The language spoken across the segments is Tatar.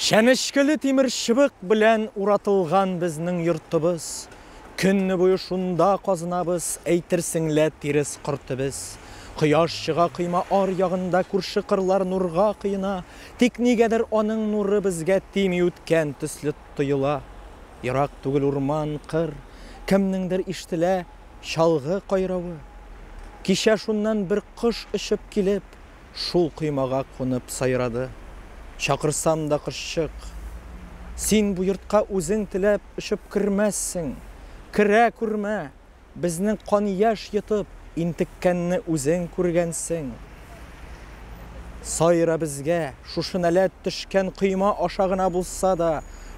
Чәнечкеле тимер чыбык белән уратылган безнең йортыбыз. Көнне буе шунда казынабыз, әйтерсең лә тирес кортебез. Кояш чыга койма ар ягында, күрше кырлар нурга коена, тик нигәдер аның нуры безгә тими үткән төсле тоела. Ерак түгел урман, кыр, кемнеңдер ишетелә чалгы кайравы. Кичә шуннан бер кош очып килеп, Шул коймага кунып сайрады. Чакырсам да кошчык. Син бу йортка үзең теләп очып кермәссең. Керә күрмә, безнең кан-яшь йотып интеккәнне үзең күргәнсең. Сайра безгә, шушы нәләт төшкән койма аша гына булса да,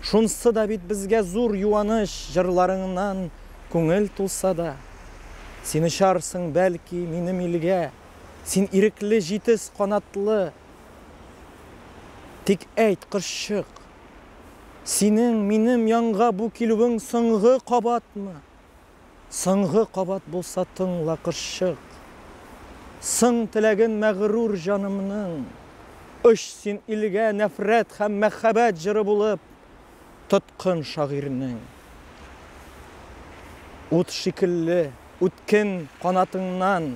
шунсы да бит безгә зур юаныч, җырларыңнан күңел тулса да. Син очарсың, бәлки, минем илгә. Син ирекле җитез канатлы. Тик әйт, кошчык, синең минем янга бу килүең соңгы кабатмы? Соңгы кабат булса тыңла, кошчык, Соң теләген мәгърур җанымның, Оч син илгә нәфрәт һәм мәхәббәт җыры булып, тоткын шагыйрьнең. Ут шикелле үткен канатыңнан,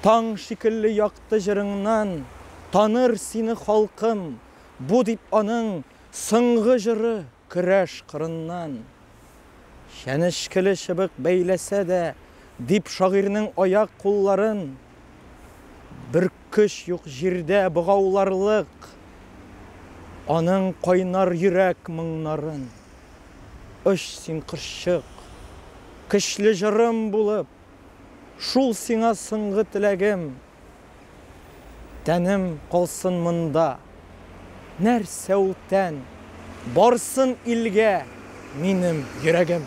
Таң шикелле якты җырыңнан Таныр сине халкым, бу дип аның Соңгы җыры көрәш кырыннан. Чәнечкеле чыбык бәйләсә дә, дип Шагыйрьнең аяк-кулларын Бер көч юк җирдә богауларлык Аның кайнар йөрәк моңнарын. Оч син кошчык, көчле җырым булып, Шул сиңа соңгы теләгем. Тәнем калсын монда, нәрсә ул тән, Барсын илгә минем йөрәгем.